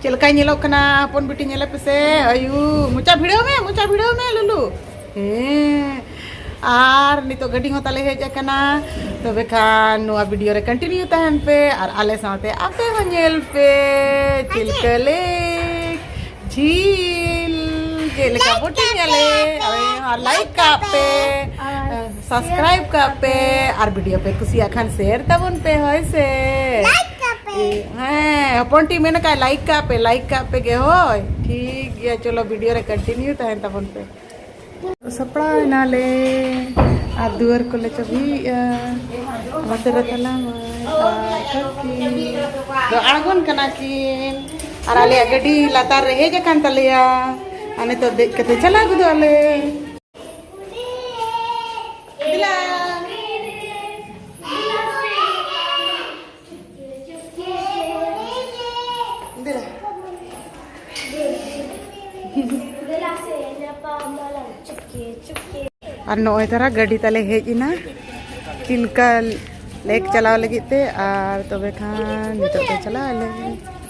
ᱪᱮᱫ ᱞᱮᱠᱟᱭ ᱧᱮᱞᱚᱜ ᱠᱟᱱᱟ ᱦᱚᱯᱚᱱ ᱵᱤᱴᱤ ᱧᱮᱞᱮ ᱯᱮᱥᱮ ᱟᱭᱩ ᱢᱚᱪᱟ ᱵᱷᱤᱲᱟᱹᱣ ᱢᱮ ᱢᱚᱪᱟ ᱵᱷᱤᱲᱟᱹᱣ ᱢᱮ ᱞᱩᱞᱩ ᱦᱮᱸ ᱟᱨ ᱱᱤᱛᱚᱜ ᱜᱟᱹᱰᱤ ᱦᱚᱸ ᱛᱟᱞᱮ ᱦᱮᱡ ᱟᱠᱟᱱᱟ ᱛᱚᱵᱮ ᱠᱷᱟᱱ ᱱᱚᱣᱟ ᱵᱷᱤᱰᱤᱭᱳ ᱨᱮ ᱠᱚᱱᱴᱤᱱᱤᱭᱩ ᱛᱟᱦᱮᱱ ᱯᱮ ᱟᱨ ᱟᱞᱮ ᱥᱟᱶᱛᱮ ᱟᱯᱮ ᱦᱚᱸ ᱧᱮᱞ ᱯᱮ ᱪᱤᱞᱠᱟᱹ ᱞᱮᱠ ᱡᱷᱤᱞ ᱪᱮᱫ ᱞᱮᱠᱟ ᱵᱳᱴᱤᱝ ᱟᱞᱮ ᱟᱨ ᱞᱟᱭᱤᱠ ᱠᱟᱜ ᱯᱮ ᱥᱟᱵᱥᱠᱨᱟᱭᱤᱵ ᱠᱟᱜ ᱯᱮ ᱟᱨ ᱵᱷᱤᱰᱤᱭᱳ ᱯᱮ ᱠᱩᱥᱤᱭᱟᱜ ᱠᱷᱟᱱ ᱥᱮᱭᱟᱨ ᱛᱟᱵᱚᱱ ᱯᱮ ᱦᱳᱭ ᱥᱮ ᱦᱮᱸ ᱦᱚᱯᱚᱱ ᱴᱤ ᱢᱮᱱ ᱠᱟᱜ ᱞᱟᱭᱤᱠ ᱠᱟᱜ ᱯᱮ ᱞᱟᱭᱤᱠ ᱠᱟᱜ ᱯᱮ ᱜᱮ ᱦᱳᱭ ᱴᱷᱤᱠ ᱜᱮᱭᱟ ᱪᱚᱞᱚ ᱵᱷᱤᱰᱤᱭᱳ ᱨᱮ ᱠᱚᱱᱴᱤᱱᱤᱭᱩ ᱛᱟᱦᱮᱱ ᱛᱟᱵᱚᱱ ᱯᱮ ᱥᱟᱯᱲᱟᱣ ᱮᱱᱟᱞᱮ ᱟᱨ ᱫᱩᱣᱟᱹᱨ ᱠᱚᱞᱮ ᱪᱟᱹᱵᱤᱭᱮᱜᱼᱟ ᱚᱱᱟᱛᱮ ᱨᱮ ᱛᱟᱞᱟ ᱫᱚ ᱟᱬᱜᱚᱱ ᱠᱟᱱᱟ ᱠᱤᱱ ᱟᱨ ᱟᱞᱮᱭᱟᱜ ᱜᱟᱹᱰᱤ ᱞᱟᱛᱟᱨ ᱨᱮ ᱦᱮᱡ ᱟᱠᱟᱱ ᱛᱟᱞᱮᱭᱟ ᱟᱨ ᱱᱤᱛᱚᱜ ᱫᱮᱡ ᱠᱟᱛᱮ ᱪᱟᱞᱟᱣ ᱜᱚᱫᱚᱜ ᱟᱞᱮ ᱟᱨ ᱱᱚᱜᱼᱚᱭ ᱛᱟᱨᱟ ᱜᱟᱹᱰᱤ ᱛᱟᱞᱮ ᱦᱮᱡ ᱮᱱᱟ ᱪᱤᱞᱠᱟ ᱞᱮᱠ ᱪᱟᱞᱟᱣ ᱞᱟᱹᱜᱤᱫ ᱛᱮ ᱟᱨ ᱛᱚᱵᱮ ᱠᱷᱟᱱ ᱱᱤᱛᱚᱜ ᱫᱚ ᱪᱟᱞᱟᱜ ᱟᱞᱮ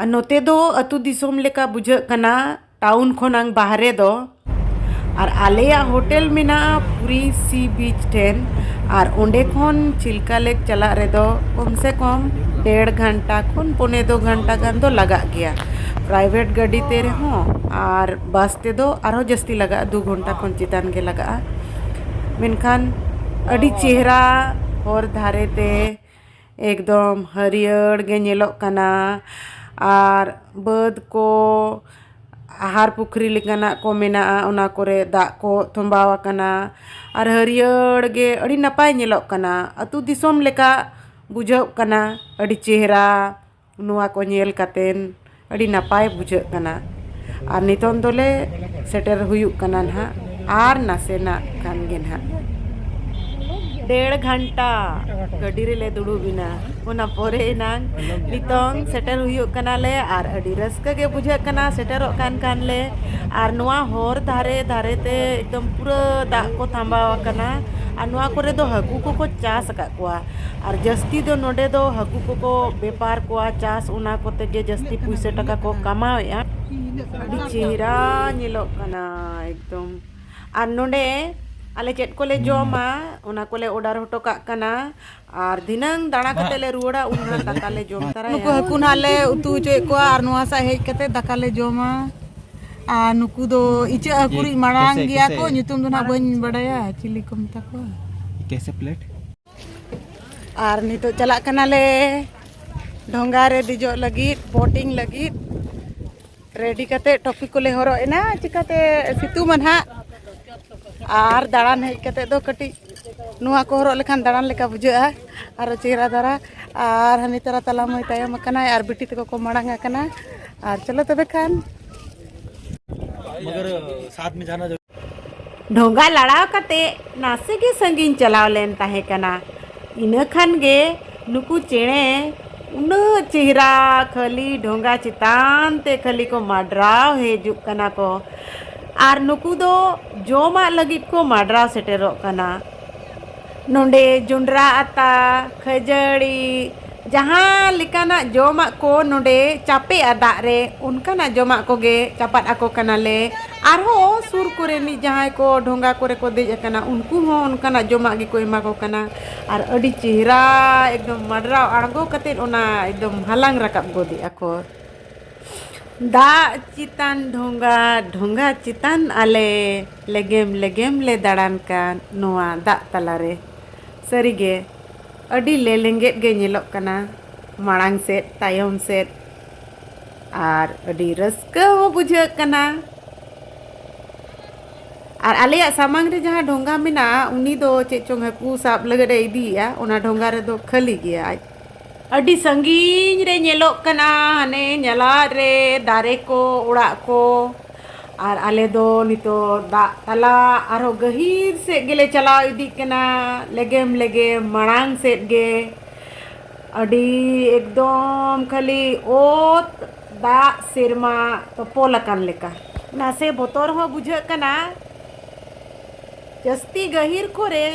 ᱟᱨ ᱱᱚᱛᱮ ᱫᱚ ᱟᱹᱛᱩ ᱫᱤᱥᱚᱢ ᱞᱮᱠᱟ ᱵᱩᱡᱷᱟᱹᱜ ᱠᱟᱱᱟ ᱴᱟᱣᱩᱱ ᱠᱷᱚᱱᱟᱝ ᱵᱟᱦᱨᱮ ᱫᱚ ᱟᱨ ᱟᱞᱮᱭᱟᱜ ᱦᱳᱴᱮᱞ ᱢᱮᱱᱟᱜᱼᱟ ᱯᱩᱨᱤ ᱥᱤ ᱵᱤᱪ ᱴᱷᱮᱱ ᱟᱨ ᱚᱸᱰᱮ ᱠᱷᱚᱱ ᱪᱤᱞᱠᱟ ᱞᱮᱠ ᱪᱟᱞᱟᱜ ᱨᱮᱫᱚ ᱠᱚᱢ ᱥᱮ ᱠᱚᱢ ᱰᱮᱲ ᱜᱷᱚᱱᱴᱟ ᱠᱷᱚᱱ ᱯᱚᱱᱮ ᱫᱩ ᱜᱷᱚᱱᱴᱟ ᱜᱟᱱ ᱫᱚ ᱞᱟᱜᱟᱜ ᱜᱮᱭᱟ ᱯᱨᱟᱭᱵᱷᱮᱴ ᱜᱟᱹᱰᱤ ᱛᱮ ᱨᱮᱦᱚᱸ ᱟᱨ ᱵᱟᱥ ᱛᱮᱫᱚ ᱟᱨᱦᱚᱸ ᱡᱟᱹᱥᱛᱤ ᱞᱟᱜᱟᱜᱼᱟ ᱫᱩ ᱜᱷᱚᱱᱴᱟ ᱠᱷᱚᱱ ᱪᱮᱛᱟᱱ ᱜᱮ ᱞᱟᱜᱟᱜᱼᱟ ᱢᱮᱱᱠᱷᱟᱱ ᱟᱹᱰᱤ ᱪᱮᱦᱨᱟ ᱦᱚᱨ ᱫᱷᱟᱨᱮ ᱛᱮ ᱮᱠᱫᱚᱢ ᱦᱟᱹᱨᱭᱟᱹᱲ ᱜᱮ ᱧᱮᱞᱚᱜ ᱠᱟᱱᱟ ᱟᱨ ᱵᱟᱹᱫᱽ ᱠᱚ ᱟᱦᱟᱨ ᱯᱩᱠᱷᱨᱤ ᱞᱮᱠᱟᱱᱟᱜ ᱠᱚ ᱢᱮᱱᱟᱜᱼᱟ ᱚᱱᱟ ᱠᱚᱨᱮ ᱫᱟᱜ ᱠᱚ ᱛᱚᱢᱵᱟᱣ ᱟᱠᱟᱱᱟ ᱟᱨ ᱦᱟᱹᱨᱭᱟᱹᱲ ᱜᱮ ᱟᱹᱰᱤ ᱱᱟᱯᱟᱭ ᱧᱮᱞᱚᱜ ᱠᱟᱱᱟ ᱟᱛᱳ ᱫᱤᱥᱚᱢ ᱞᱮᱠᱟ ᱵᱩᱡᱷᱟᱹᱜ ᱠᱟᱱᱟ ᱟᱹᱰᱤ ᱪᱮᱦᱨᱟ ᱱᱚᱣᱟ ᱠᱚ ᱧᱮᱞ ᱠᱟᱛᱮᱫ ᱟᱹᱰᱤ ᱱᱟᱯᱟᱭ ᱵᱩᱡᱷᱟᱹᱜ ᱠᱟᱱᱟ ᱟᱨ ᱱᱤᱛᱳᱝ ᱫᱚᱞᱮ ᱥᱮᱴᱮᱨ ᱦᱩᱭᱩᱜ ᱠᱟᱱᱟ ᱱᱟᱜ ᱟᱨ ᱱᱟᱥᱮᱱᱟᱜ ᱠᱷᱟᱱ ᱜᱮ ᱱᱟᱜ ᱰᱮᱲ ᱜᱷᱚᱱᱴᱟ ᱜᱟᱹᱰᱤ ᱨᱮᱞᱮ ᱫᱩᱲᱩᱵ ᱮᱱᱟ ᱚᱱᱟ ᱯᱚᱨᱮ ᱮᱱᱟᱝ ᱱᱤᱛᱳᱝ ᱥᱮᱴᱮᱨ ᱦᱩᱭᱩᱜ ᱠᱟᱱᱟᱞᱮ ᱟᱨ ᱟᱹᱰᱤ ᱨᱟᱹᱥᱠᱟᱹ ᱜᱮ ᱵᱩᱡᱷᱟᱹᱜ ᱠᱟᱱᱟ ᱥᱮᱴᱮᱨᱚᱜ ᱠᱟᱱ ᱠᱷᱟᱱ ᱞᱮ ᱟᱨ ᱱᱚᱣᱟ ᱦᱚᱨ ᱫᱷᱟᱨᱮ ᱫᱷᱟᱨᱮ ᱛᱮ ᱮᱠᱫᱚᱢ ᱯᱩᱨᱟᱹ ᱫᱟᱜ ᱠᱚ ᱛᱷᱟᱢᱵᱟᱣᱟᱠᱟᱱᱟ ᱟᱨ ᱱᱚᱣᱟ ᱠᱚᱨᱮ ᱫᱚ ᱦᱟᱹᱠᱩ ᱠᱚᱠᱚ ᱪᱟᱥ ᱟᱠᱟᱫ ᱠᱚᱣᱟ ᱟᱨ ᱡᱟᱹᱥᱛᱤ ᱫᱚ ᱱᱚᱸᱰᱮ ᱫᱚ ᱦᱟᱹᱠᱩ ᱠᱚᱠᱚ ᱵᱮᱯᱟᱨ ᱠᱚᱣᱟ ᱪᱟᱥ ᱚᱱᱟ ᱠᱚᱛᱮ ᱜᱮ ᱡᱟᱹᱥᱛᱤ ᱯᱩᱭᱥᱟᱹ ᱴᱟᱠᱟ ᱠᱚ ᱠᱟᱢᱟᱣᱮᱜᱼᱟ ᱟᱹᱰᱤ ᱪᱮᱦᱨᱟ ᱧᱮᱞᱚᱜ ᱠᱟᱱᱟ ᱮᱠᱫᱚᱢ ᱟᱨ ᱱᱚᱸᱰᱮ ᱟᱞᱮ ᱪᱮᱫ ᱠᱚᱞᱮ ᱡᱚᱢᱟ ᱚᱱᱟ ᱠᱚᱞᱮ ᱚᱰᱟᱨ ᱦᱚᱴᱚ ᱠᱟᱜ ᱠᱟᱱᱟ ᱟᱨ ᱫᱷᱤᱱᱟᱹᱝ ᱫᱟᱬᱟ ᱠᱟᱛᱮ ᱞᱮ ᱨᱩᱣᱟᱹᱲᱟ ᱩᱱ ᱦᱟᱸᱜ ᱫᱟᱠᱟ ᱞᱮ ᱡᱚᱢ ᱛᱟᱨᱟᱭᱟ ᱱᱩᱠᱩ ᱦᱟᱹᱠᱩ ᱱᱟᱦᱟᱜ ᱞᱮ ᱩᱛᱩ ᱦᱚᱪᱚᱭᱮᱫ ᱠᱚᱣᱟ ᱟᱨ ᱱᱚᱣᱟ ᱥᱟᱜ ᱦᱮᱡ ᱠᱟᱛᱮ ᱫᱟᱠᱟ ᱞᱮ ᱡᱚᱢᱟ ᱟᱨ ᱱᱩᱠᱩ ᱫᱚ ᱤᱪᱟᱹᱜ ᱦᱟᱹᱠᱩ ᱨᱤᱡ ᱢᱟᱲᱟᱝ ᱜᱮᱭᱟ ᱠᱚ ᱧᱩᱛᱩᱢ ᱫᱚ ᱱᱟᱦᱟᱜ ᱵᱟᱹᱧ ᱵᱟᱰᱟᱭᱟ ᱪᱤᱞᱤ ᱠᱚ ᱢᱮᱛᱟ ᱠᱚᱣᱟ ᱠᱮᱥᱮ ᱯᱞᱮᱴ ᱟᱨ ᱱᱤᱛᱚᱜ ᱪᱟᱞᱟᱜ ᱠᱟᱱᱟᱞᱮ ᱰᱷᱚᱸᱜᱟ ᱨᱮ ᱫᱮᱡᱚᱜ ᱞᱟᱹᱜᱤᱫ ᱵᱳᱴᱤᱝ ᱞᱟᱹᱜᱤᱫ ᱨᱮᱰᱤ ᱠᱟᱛᱮ ᱴᱚᱯᱤ ᱠᱚᱞᱮ ᱦᱚᱨᱚᱜ ᱮᱱᱟ ᱪᱤᱠᱟᱛᱮ ᱥᱤᱛᱩᱝ ᱢᱟ ᱱᱟᱦᱟᱜ ᱟᱨ ᱫᱟᱬᱟᱱ ᱦᱮᱡ ᱠᱟᱛᱮ ᱫᱚ ᱠᱟᱹᱴᱤᱡ ᱱᱚᱣᱟ ᱠᱚ ᱦᱚᱨᱚᱜ ᱞᱮᱠᱷᱟᱱ ᱫᱟᱬᱟᱱ ᱞᱮᱠᱟ ᱵᱩᱡᱷᱟᱹᱜᱼᱟ ᱟᱨ ᱪᱮᱦᱨᱟ ᱫᱷᱟᱨᱟ ᱟᱨ ᱦᱟᱹᱱᱤ ᱛᱟᱨᱟ ᱛᱟᱞᱟ ᱢᱟᱹᱭ ᱛᱟᱭᱚᱢ ᱟᱠᱟᱱᱟᱭ ᱟᱨ ᱵᱤᱴᱤ ᱛᱟᱠᱚ ᱠᱚ ᱢᱟᱲᱟᱝ ᱟᱠᱟᱱᱟ ᱟᱨ ᱪᱚᱞᱚ ᱛᱚᱵᱮ ᱠᱷᱟᱱ ᱰᱷᱚᱸᱜᱟ ᱞᱟᱲᱟᱣ ᱠᱟᱛᱮ ᱱᱟᱥᱮ ᱜᱮ ᱥᱟᱺᱜᱤᱧ ᱪᱟᱞᱟᱣ ᱞᱮᱱ ᱛᱟᱦᱮᱸ ᱠᱟᱱᱟ ᱤᱱᱟᱹ ᱠᱷᱟᱱ ᱜᱮ ᱱᱩᱠᱩ ᱪᱮᱬᱮ ᱩᱱᱟᱹᱜ ᱪᱮᱦᱨᱟ ᱠᱷᱟᱹᱞᱤ ᱰᱷᱚᱸᱜᱟ ᱪᱮᱛᱟᱱ ᱛᱮ ᱠᱷᱟᱹᱞᱤ ᱠᱚ ᱢᱟᱰᱨᱟᱣ ᱦᱤᱡᱩᱜ ᱠᱟᱱᱟ ᱠᱚ ᱟᱨ ᱱᱩᱠᱩ ᱫᱚ ᱡᱚᱢᱟᱜ ᱞᱟᱹᱜᱤᱫ ᱠᱚ ᱢᱟᱰᱨᱟᱣ ᱥᱮᱴᱮᱨᱚᱜ ᱠᱟᱱᱟ ᱱᱚᱰᱮ ᱡᱚᱸᱰᱨᱟ ᱟᱛᱟ ᱠᱷᱟᱹᱡᱟᱹᱲᱤ ᱡᱟᱦᱟᱸ ᱞᱮᱠᱟᱱᱟᱜ ᱡᱚᱢᱟᱜ ᱠᱚ ᱱᱚᱰᱮ ᱪᱟᱯᱮᱜᱼᱟ ᱫᱟᱜ ᱨᱮ ᱚᱱᱠᱟᱱᱟᱜ ᱡᱚᱢᱟᱜ ᱠᱚᱜᱮ ᱪᱟᱯᱟᱫ ᱟᱠᱚ ᱠᱟᱱᱟᱞᱮ ᱟᱨᱦᱚᱸ ᱥᱩᱨ ᱠᱚᱨᱮᱱᱤᱡ ᱡᱟᱦᱟᱸᱭ ᱠᱚ ᱰᱷᱚᱸᱜᱟ ᱠᱚᱨᱮ ᱠᱚ ᱫᱮᱡ ᱟᱠᱟᱱᱟ ᱩᱱᱠᱩ ᱦᱚᱸ ᱚᱱᱠᱟᱱᱟᱜ ᱡᱚᱢᱟᱜ ᱜᱮᱠᱚ ᱮᱢᱟ ᱠᱚ ᱠᱟᱱᱟ ᱟᱨ ᱟᱹᱰᱤ ᱪᱮᱦᱨᱟ ᱮᱠᱫᱚᱢ ᱢᱟᱰᱨᱟᱣ ᱟᱬᱜᱚ ᱠᱟᱛᱮ ᱚᱱᱟ ᱮᱠᱫᱚᱢ ᱦᱟᱞᱟᱝ ᱨᱟᱠᱟᱵ ᱜᱚᱫᱮᱜᱼᱟ ᱠᱚ ᱫᱟᱜ ᱪᱮᱛᱟᱱ ᱰᱷᱚᱸᱜᱟ ᱰᱷᱚᱸᱜᱟ ᱪᱮᱛᱟᱱ ᱟᱞᱮ ᱞᱮᱜᱮᱢ ᱞᱮᱜᱮᱢ ᱞᱮ ᱫᱟᱬᱟᱱ ᱠᱟᱱ ᱱᱚᱣᱟ ᱫᱟᱜ ᱛᱟᱞᱟ ᱨᱮ᱾ ᱥᱟᱹᱨᱤ ᱜᱮ ᱟᱹᱰᱤ ᱞᱮᱞᱮᱸᱜᱮᱫ ᱜᱮ ᱧᱮᱞᱚᱜ ᱠᱟᱱᱟ ᱢᱟᱲᱟᱝ ᱥᱮᱫ ᱛᱟᱭᱚᱢ ᱥᱮᱫ ᱟᱨ ᱟᱹᱰᱤ ᱨᱟᱹᱥᱠᱟᱹ ᱦᱚᱸ ᱵᱩᱡᱷᱟᱹᱜ ᱠᱟᱱᱟ᱾ ᱟᱨ ᱟᱞᱮᱭᱟᱜ ᱥᱟᱢᱟᱝ ᱨᱮ ᱡᱟᱦᱟᱸ ᱰᱷᱚᱸᱜᱟ ᱢᱮᱱᱟᱜᱼᱟ ᱩᱱᱤ ᱫᱚ ᱪᱮᱫ ᱪᱚᱝ ᱦᱟᱹᱠᱩ ᱥᱟᱵ ᱞᱟᱹᱜᱤᱫ ᱮ ᱤᱫᱤᱭᱮᱜᱼᱟ ᱚᱱᱟ ᱰᱷᱚᱸᱜᱟ ᱨᱮᱫᱚ ᱠᱷᱟᱹᱞᱤ ᱜᱮᱭᱟ ᱟᱡ ᱟᱹᱰᱤ ᱥᱟᱺᱜᱤᱧ ᱨᱮ ᱧᱮᱞᱚᱜ ᱠᱟᱱᱟ ᱦᱟᱱᱮ ᱧᱟᱞᱟᱫ ᱨᱮ ᱫᱟᱨᱮ ᱠᱚ ᱚᱲᱟᱜ ᱠᱚ ᱟᱨ ᱟᱞᱮ ᱫᱚ ᱱᱤᱛᱚᱜ ᱫᱟᱜ ᱛᱟᱞᱟ ᱟᱨᱦᱚᱸ ᱜᱟᱹᱦᱤᱨ ᱥᱮᱫ ᱜᱮᱞᱮ ᱪᱟᱞᱟᱣ ᱤᱫᱤᱜ ᱠᱟᱱᱟ ᱞᱮᱜᱮᱢ ᱞᱮᱜᱮᱢ ᱢᱟᱲᱟᱝ ᱥᱮᱫ ᱜᱮ ᱟᱹᱰᱤ ᱮᱠᱫᱚᱢ ᱠᱷᱟᱹᱞᱤ ᱚᱛ ᱫᱟᱜ ᱥᱮᱨᱢᱟ ᱛᱚᱯᱚᱞ ᱟᱠᱟᱱ ᱞᱮᱠᱟ ᱱᱟᱥᱮ ᱵᱚᱛᱚᱨ ᱦᱚᱸ ᱵᱩᱡᱷᱟᱹᱜ ᱠᱟᱱᱟ ᱡᱟᱹᱥᱛᱤ ᱜᱟᱹᱦᱤᱨ ᱠᱚᱨᱮ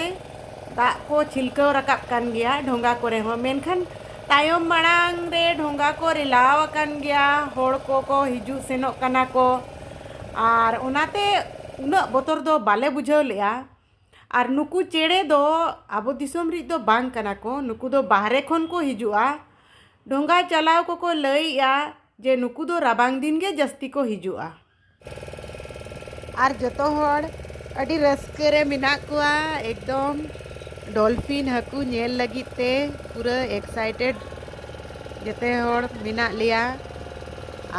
ᱫᱟᱜ ᱠᱚ ᱪᱷᱤᱞᱠᱟᱹᱣ ᱨᱟᱠᱟᱵ ᱠᱟᱱ ᱜᱮᱭᱟ ᱰᱷᱚᱸᱜᱟ ᱠᱚᱨᱮ ᱦᱚᱸ ᱢᱮᱱᱠᱷᱟᱱ ᱛᱟᱭᱚᱢ ᱢᱟᱲᱟᱝ ᱨᱮ ᱰᱷᱚᱸᱜᱟ ᱠᱚ ᱨᱮᱞᱟᱣ ᱟᱠᱟᱱ ᱜᱮᱭᱟ ᱦᱚᱲ ᱠᱚᱠᱚ ᱦᱤᱡᱩᱜ ᱥᱮᱱᱚᱜ ᱠᱟᱱᱟ ᱠᱚ ᱟᱨ ᱚᱱᱟᱛᱮ ᱩᱱᱟᱹᱜ ᱵᱚᱛᱚᱨ ᱫᱚ ᱵᱟᱞᱮ ᱵᱩᱡᱷᱟᱹᱣ ᱞᱮᱜᱼᱟ ᱟᱨ ᱱᱩᱠᱩ ᱪᱮᱬᱮ ᱫᱚ ᱟᱵᱚ ᱫᱤᱥᱚᱢ ᱨᱮᱱ ᱫᱚ ᱵᱟᱝ ᱠᱟᱱᱟ ᱠᱚ ᱱᱩᱠᱩ ᱫᱚ ᱵᱟᱦᱨᱮ ᱠᱷᱚᱱ ᱠᱚ ᱦᱤᱡᱩᱜᱼᱟ ᱰᱷᱚᱸᱜᱟ ᱪᱟᱞᱟᱣ ᱠᱚᱠᱚ ᱞᱟᱹᱭᱮᱜᱼᱟ ᱡᱮ ᱱᱩᱠᱩ ᱫᱚ ᱨᱟᱵᱟᱝ ᱫᱤᱱ ᱜᱮ ᱡᱟᱹᱥᱛᱤ ᱠᱚ ᱦᱤᱡᱩᱜᱼᱟ ᱟᱨ ᱡᱚᱛᱚ ᱦᱚᱲ ᱟᱹᱰᱤ ᱨᱟᱹᱥᱠᱟᱹ ᱨᱮ ᱢᱮᱱᱟᱜ ᱠᱚᱣᱟ ᱮᱠᱫᱚᱢ ᱰᱚᱞᱯᱷᱤᱱ ᱦᱟᱹᱠᱩ ᱧᱮᱞ ᱞᱟᱹᱜᱤᱫ ᱛᱮ ᱯᱩᱨᱟᱹ ᱮᱠᱥᱟᱭᱴᱮᱰ ᱡᱚᱛᱚ ᱦᱚᱲ ᱢᱮᱱᱟᱜ ᱞᱮᱭᱟ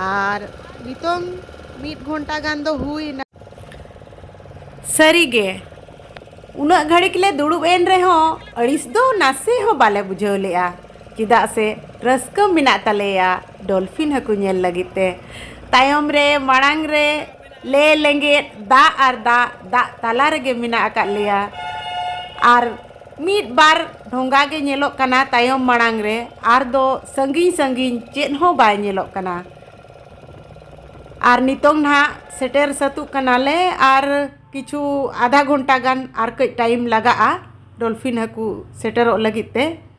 ᱟᱨ ᱱᱤᱛᱚᱝ ᱢᱤᱫ ᱜᱷᱚᱱᱴᱟ ᱜᱟᱱ ᱫᱚ ᱦᱩᱭᱱᱟ ᱥᱟᱹᱨᱤᱜᱮ ᱩᱱᱟᱹᱜ ᱜᱷᱟᱹᱲᱤᱠ ᱞᱮ ᱫᱩᱲᱩᱵ ᱮᱱ ᱨᱮᱦᱚᱸ ᱟᱹᱲᱤᱥ ᱫᱚ ᱱᱟᱥᱮ ᱦᱚᱸ ᱵᱟᱞᱮ ᱵᱩᱡᱷᱟᱹᱣ ᱞᱮᱜᱼᱟ ᱪᱮᱫᱟᱜ ᱥᱮ ᱨᱟᱹᱥᱠᱟᱹ ᱢᱮᱱᱟᱜ ᱛᱟᱞᱮᱭᱟ ᱰᱚᱞᱯᱷᱤᱱ ᱦᱟᱹᱠᱩ ᱧᱮᱞ ᱞᱟᱹᱜᱤᱫ ᱛᱮ ᱛᱟᱭᱚᱢ ᱨᱮ ᱢᱟᱲᱟᱝ ᱨᱮ ᱞᱮ ᱞᱮᱸᱜᱮᱫ ᱫᱟᱜ ᱟᱨ ᱫᱟᱜ ᱫᱟᱜ ᱛᱟᱞᱟ ᱨᱮᱜᱮ ᱢᱮᱱᱟᱜ ᱟᱠᱟᱫ ᱞᱮᱭᱟ ᱟᱨ ᱢᱤᱫ ᱵᱟᱨ ᱰᱷᱚᱸᱜᱟ ᱜᱮ ᱧᱮᱞᱚᱜ ᱠᱟᱱᱟ ᱛᱟᱭᱚᱢ ᱢᱟᱲᱟᱝ ᱨᱮ ᱟᱨ ᱫᱚ ᱥᱟᱺᱜᱤᱧ ᱥᱟᱺᱜᱤᱧ ᱪᱮᱫ ᱦᱚᱸ ᱵᱟᱭ ᱧᱮᱞᱚᱜ ᱠᱟᱱᱟ ᱟᱨ ᱱᱤᱛᱚᱝ ᱱᱟᱦᱟᱜ ᱥᱮᱴᱮᱨ ᱥᱟᱹᱛᱚᱜ ᱠᱟᱱᱟᱞᱮ ᱟᱨ ᱠᱤᱪᱷᱩ ᱟᱫᱷᱟ ᱜᱷᱚᱱᱴᱟ ᱜᱟᱱ ᱟᱨ ᱠᱟᱹᱡ ᱴᱟᱭᱤᱢ ᱞᱟᱜᱟᱜᱼᱟ ᱰᱚᱞᱯᱷᱤᱱ ᱦᱟᱹᱠᱩ ᱥᱮᱴᱮᱨᱚᱜ ᱞᱟᱹᱜᱤᱫ ᱛᱮ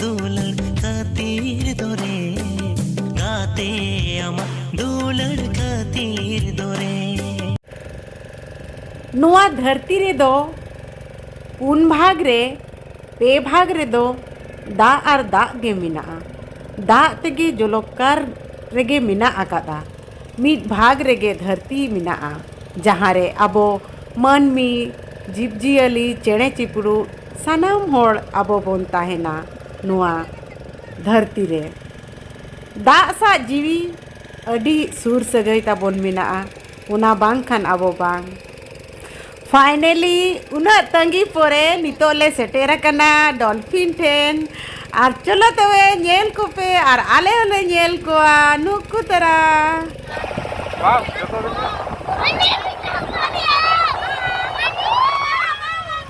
ᱫᱩᱞᱟᱹᱲ ᱠᱷᱟᱹᱛᱤᱨ ᱫᱚᱨᱮ ᱜᱟᱛᱮ ᱟᱢᱟᱜ ᱫᱩᱞᱟᱹᱲ ᱠᱷᱟᱹᱛᱤᱨ ᱫᱚᱨᱮ ᱱᱚᱣᱟ ᱫᱷᱟᱹᱨᱛᱤ ᱨᱮᱫᱚ ᱯᱩᱱ ᱵᱷᱟᱜᱽ ᱨᱮ ᱯᱮ ᱵᱷᱟᱜᱽ ᱨᱮᱫᱚ ᱫᱟᱜ ᱟᱨ ᱫᱟᱜ ᱜᱮ ᱢᱮᱱᱟᱜᱼᱟ ᱫᱟᱜ ᱛᱮᱜᱮ ᱡᱚᱞᱚᱠᱟᱨ ᱨᱮᱜᱮ ᱢᱮᱱᱟᱜ ᱟᱠᱟᱫᱟ ᱢᱤᱫ ᱵᱷᱟᱜᱽ ᱨᱮᱜᱮ ᱫᱷᱟᱹᱨᱛᱤ ᱢᱮᱱᱟᱜᱼᱟ ᱡᱟᱦᱟᱸ ᱨᱮ ᱟᱵᱚ ᱢᱟᱹᱱᱢᱤ ᱡᱤᱵᱽᱼᱡᱤᱭᱟᱹᱞᱤ ᱪᱮᱬᱮ ᱪᱤᱯᱨᱩᱫ ᱥᱟᱱᱟᱢ ᱦᱚᱲ ᱟᱵᱚ ᱵᱚᱱ ᱛᱟᱦᱮᱱᱟ ᱱᱚᱣᱟ ᱫᱷᱟᱹᱨᱛᱤ ᱨᱮ ᱫᱟᱜ ᱥᱟᱜ ᱡᱤᱣᱤ ᱟᱹᱰᱤ ᱥᱩᱨ ᱥᱟᱹᱜᱟᱹᱭ ᱛᱟᱵᱚᱱ ᱢᱮᱱᱟᱜᱼᱟ ᱚᱱᱟ ᱵᱟᱝ ᱠᱷᱟᱱ ᱟᱵᱚ ᱵᱟᱝ ᱯᱷᱟᱭᱱᱮᱞᱤ ᱩᱱᱟᱹᱜ ᱛᱟᱺᱜᱤ ᱯᱚᱨᱮ ᱱᱤᱛᱚᱜ ᱞᱮ ᱥᱮᱴᱮᱨ ᱟᱠᱟᱱᱟ ᱰᱚᱞᱯᱷᱤᱱ ᱴᱷᱮᱱ ᱟᱨ ᱪᱚᱞᱚ ᱛᱚᱵᱮ ᱧᱮᱞ ᱠᱚᱯᱮ ᱟᱨ ᱟᱞᱮ ᱦᱚᱸᱞᱮ ᱧᱮᱞ ᱠᱚᱣᱟ ᱱᱩᱠᱩ ᱛᱟᱨᱟ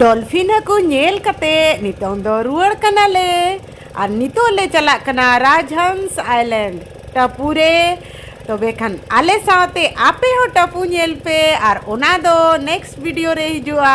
ᱰᱚᱞᱯᱷᱤᱱ ᱦᱟᱹᱠᱩ ᱧᱮᱞ ᱠᱟᱛᱮ ᱱᱤᱛᱚᱝ ᱫᱚ ᱨᱩᱣᱟᱹᱲ ᱠᱟᱱᱟᱞᱮ ᱟᱨ ᱱᱤᱛᱚᱜ ᱞᱮ ᱪᱟᱞᱟᱜ ᱠᱟᱱᱟ ᱨᱟᱡᱽᱦᱚᱸᱥ ᱟᱭᱞᱮᱱᱰ ᱴᱟᱯᱩ ᱨᱮ ᱛᱚᱵᱮ ᱠᱷᱟᱱ ᱟᱞᱮ ᱥᱟᱶᱛᱮ ᱟᱯᱮ ᱦᱚᱸ ᱴᱟᱯᱩ ᱧᱮᱞ ᱯᱮ ᱟᱨ ᱚᱱᱟ ᱫᱚ ᱱᱮᱠᱥᱴ ᱵᱷᱤᱰᱤᱭᱳ ᱨᱮ ᱦᱤᱡᱩᱜᱼᱟ